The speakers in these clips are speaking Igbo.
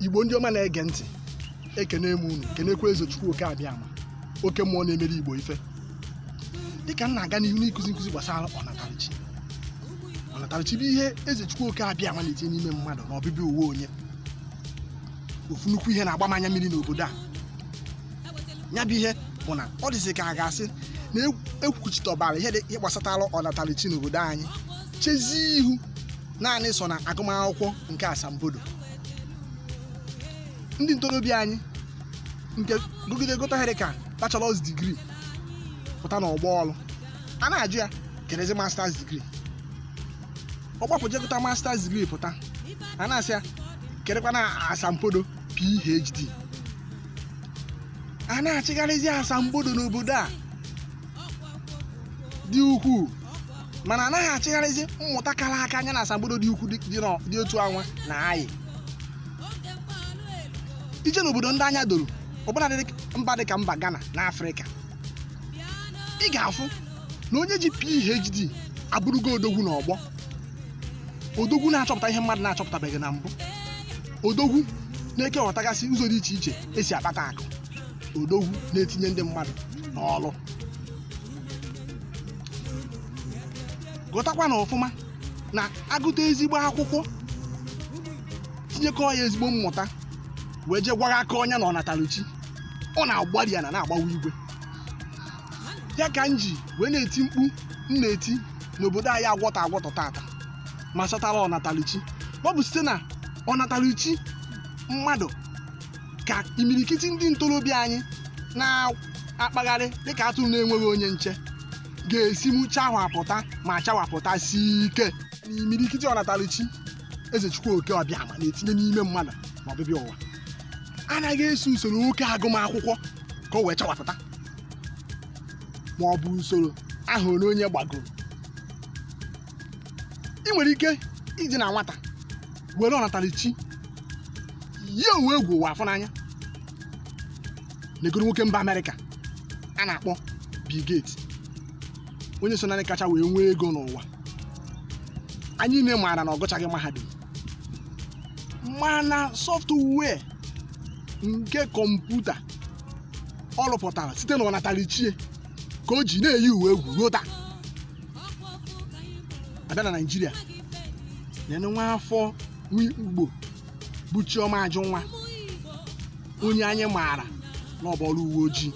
igbo ndị ọma na-ege ntị ekene m unu kenekwa eze chukwu oke abịama oke mmụọ na-emere igbo ife dịka m na-aga n'ihu n'ịkụzi nkụzi gbasara ọnatarichi ọnatarichi bụ ihe eze chukwu oke abịama na-etinye n'ime mmadụ na ọbịbịa ụwa onye ofu nnukwu ihe na-agba m anya mmiri n'obodo a ya bụ ihe bụ na ọ dịzi ka a ga-asị na e kwuchitọbara ihe gbasatara ọnatarichi n'obodo anyị chezie ihu naanị so na agụmakwụkwọ nke asambodo ndị ntorobịa anyị nke gụgide gụta ihe dịka bachelors degree pụta n'ọgbọ ọrụ a na-ajụ ya kedụzi masters degree ọ gbapụ jee gụta masters degree pụta a na-asị ya kedụkwanụ asambodo phd a na-achịgharịzi asambodo n'obodo a dị ukwuu mana a naghị achịgharịzi mmụta kara aka nya na asambodo dị ukwuu dị otu anwa na-ayị i je n'obodo ndị anya doro ọbụna mba dị ka mba Ghana na Afrịka ị ga-afụ na onye ji PhD abụrụgo odogwu n'ọgbọ odogwu na-achọpụta ihe mmadụ na-achọpụtabeghị na mbụ odogwu na-ekewọtagasị ụzọ dị iche iche esi akpata akụ odogwu na-etinye ndị mmadụ n'ọrụ ghọtakwa na ọfụma na a gụta ezigbo akwụkwọ tinyekọ ya ezigbo mmụta wee jee gwaghakọọ nya na ọnataluchi ọ na-agbari ana na-agbawa igwe ya ka m ji wee na-eti mkpu m na-eti n'obodo anyị agwọtọ agwọtọ tata gbasatara ọnatalichi ọ bụ site na ọnatalichi mmadụ ka imirikiti ndị ntorobịa anyị na-akpagharị dịka atụrụ na-enweghị onye nche ga-esi mụchawapụta ma chawapụtasi ike na imirikiti ọnatalichi ezechukwu oke abịama na-etinye n'ime mmadụ na ọbịbịa ụwa anaghị eso usoro oke agụmakwụkwọ ka o wee chawapụta ma ọ bụ usoro ahọ ole onye gbagoro ị nwere ike ịdị na nwata were ọnatarichi yie ụwa egwu ụwa afụ n'anya negodu nwoke mba amerịka a na-akpọ Bill Gates onye so na ndị kacha wee nwee ego n'ụwa anyị niile maara na ọ gụchaghị mahadum mana software nke kọmputa ọ rụpụtara site na ọnatarachi ka o ji na-eyi ụwa egwu ruo taa a bịa na naijiria nenụ nwa afọ nwa igbo bụ chioma ajụnwa onye anyị maara na ọ bụ ọrụ uwe ojii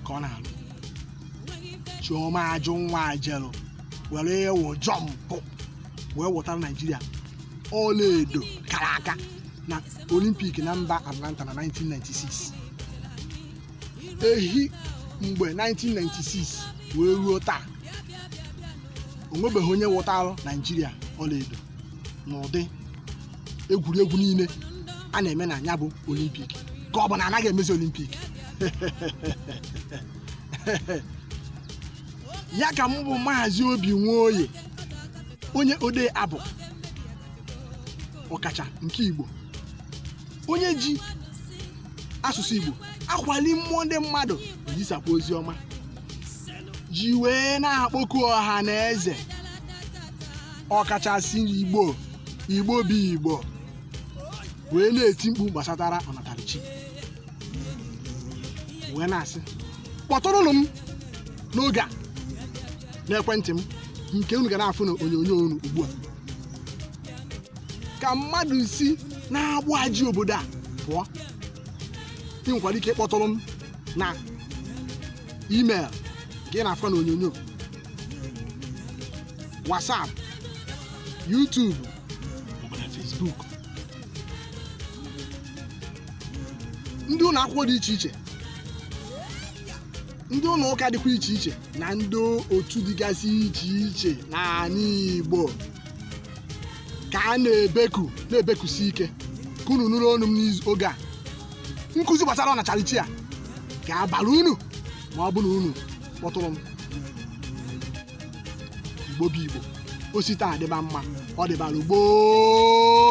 ka ọ na-alụ chioma ajụnwa jelu were ịwụ jọmpụ wee wụtara naijiria ọlaedo kara aka olimpik na mba atlanta na 1996 ehi mgbe 1996 wee ruo taa o nwebeghị onye wụtara naijiria ọlaedo n'ụdị egwuregwu niile a na-eme na ya bụ olimpik ka ọ bụ na anaghị emezi olimpik ya ka m bụ maazị obi nwoye onye odee abụ ọkacha nke igbo onye ji asụsụ igbo akwali mmụọ ndị mmadụ ezisakwa ozi ọma ji wee na-akpọku ọha na eze ọkachasị igbo igbo bụ igbo wee na-eti mkpu gbasatara ọnatarachi wee na-asị kpọtụrụnụ m n'oge a n'ekwentị m nke unu ga na-afụ na onyonyo unu ugbu a ka mmadụ si n'agbụ a ji obodo a pụọ ị nwekwara ike ịkpọtụrụ m na email nke ị na-afụ na onyonyo whatsapp youtube maọbụ na facebook ndị ụlọ akwụkwọ dị iche iche ndị ụlọ ụka dịkwa iche iche na ndị otu dịgasị iche iche n'ala igbo ka a na-ebeku na-ebekusi ike ka unu nụrụ onu m n'oge a nkụzi gbasara ọnatarachi a ga-abara unu ma ọ bụ na unu kpọtụrụ m igbo bụ igbo o si taa dịba mma ọ dịbara gboo